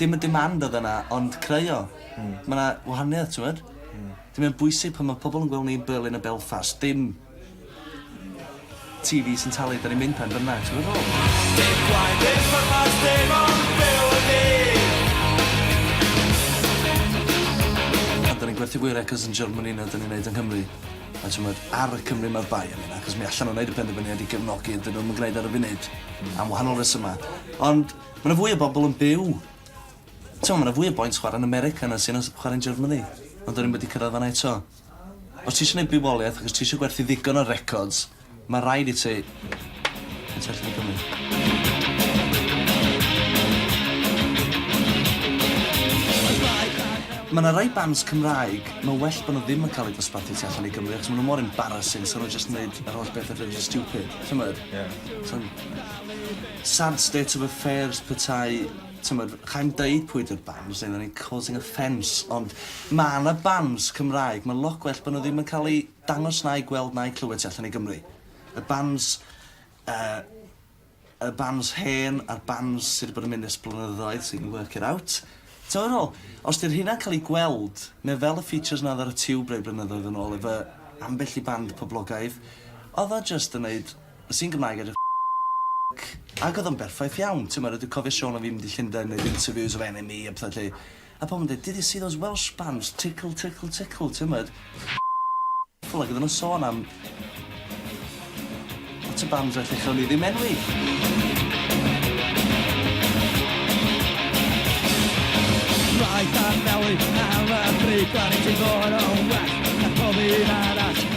dim y demand odd yna ond creu o. Hmm. Ma' 'na wahaniaeth t'mod? Hmm. Felly mae'n bwysig pan ma' pobol yn gwel' ni yn Berlin a Belfast dim Tee Vee sy'n talu 'dan ni'n mynd pen bynnag t'mod dwi feddwl? Dim gwaed dim pwrpas dim ond byw y dydd. Pan 'dan ni'n gwerthu fwy o records yn Germany na 'dan ni'n neud yng Nghymru a t'mod ar y Cymry ma'r bai am hynna achos mi allan n'w neud y penderfyniad i gefnogi ydyn nw'm yn gneud ar y funud. Hmm. Am wahanol resyma. Ond Ma' 'na fwy o bobol yn byw... T'mo' ma' 'na fwy o boints chwara'n America na sy 'na s- chwara'n Germany ond 'dan ni'm wedi cyrradd fan 'na eto. Os ti isio neud bywolieth ac os ti isio gwerthu ddigon o records ma' raid i ti neud tu allan i Gymru. Ma' 'na rai bands Cymraeg ma' well bo' nw ddim yn ca'l eu dosbarthu tu allan i Gymru achos ma' nw mor embarrassing so nw jyst yn neud yr holl bethe rili stupid t'mod? Ie. So'n... Sad state of affairs petai, t'mod, chai'm deud pwy 'di'r bands neu fyddwn i'n causing offence ond ma' 'na bands Cymraeg ma'n lot gwell bo' nw ddim yn ca'l eu dangos na'u gweld na'u clywed tu allan i Gymru. Y bands yy y bands hen a'r bands sy' 'di bod yn mynd ers blynyddoedd so you can work it out. T'mo' be' dwi fe'wl? Os 'di'r rheina'n ca'l 'u gweld ne' fel y features 'na o'dd ar y Tiwb rei blynyddoedd yn ôl efo ambell i band poblogaidd o'dd o jyst yn neud Sy'n Gymraeg ar y c, ac oedd o'n berffaith iawn, timod, a dwi'n cofio Siôn a fi'n mynd i Llundain yn neud interviews efo NME a petha 'lly, a pobl yn deud did you see those Welsh bands tickle tickle tickle, timod, ac oedden nhw'n sôn am lot o bands felly chawn ni ddim enwi.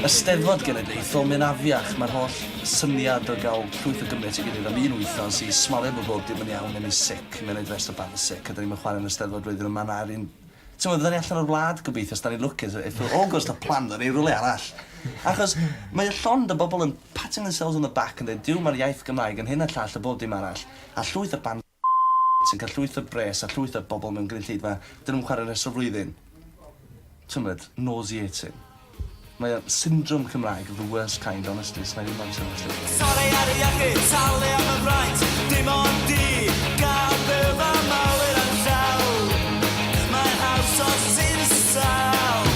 Eisteddfod Genedlaethol. Fel mae'n afiach, mae'r holl syniad o gael llwyth o Gymry at ei gilydd am un wythnos i smalio bod bob dim yn iawn neu ni'n sic, mae'n rhaid restr bach o sic a 'da ni'm yn chwarae yn yr Eisteddfod flwyddyn yma na ry'n Timod, fydda ni allan o'r wlad gobeithio os 'da ni'n lwcus e- eithr Awgwst a plan 'da ni rywle arall. Achos mae o llond o bobl yn patting themselves on the back yn deud Duw mae'r iaith Gymraeg yn hyn a llall a bob dim arall a llwyth o bands sy'n cael llwyth o bres a llwyth o bobl mewn gynulleidfa dyn nhw'm chwarae rhestr o flwyddyn. T'mod, nauseating. Mae o'n syndrom Cymraeg of the worst kind, honestly, sna i ddim amser am y llyfr. Sori ar y iechyd, talu am y fraint, dim ond di, gad byw fy mywyd am sel. Mae'n haws os ti'n isel,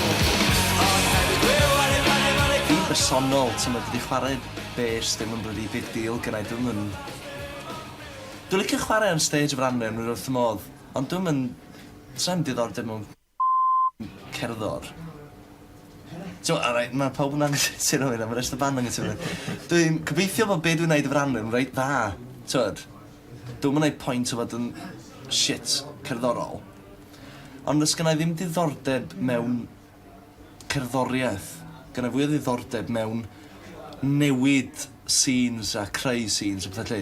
ond hefyd byw ar ei ben heb anelu. Fi'n bersonol, t'mod, dydi chwarae bês ddim yn blydi big deal gynna i, dwi'm yn Dwi licio chware ar stage efo'r anrheon rwy'n wrth fy modd ond dwi'm yn... sai'm diddordeb mewn cerddor. T'mo' alright ma' pawb yn anghytuno efo hynna ma' rest y band anghytuno efo hynna. Dwi'n gobeithio fod be' dwi'n neud efo'r anrheon reit dda t'mod? Dwi'm yn neud point o fod yn shit cerddorol ond does gynnai ddim diddordeb mewn cerddorieth. Gynnai fwy o ddiddordeb mewn newid scenes a creu scenes a petha 'lly.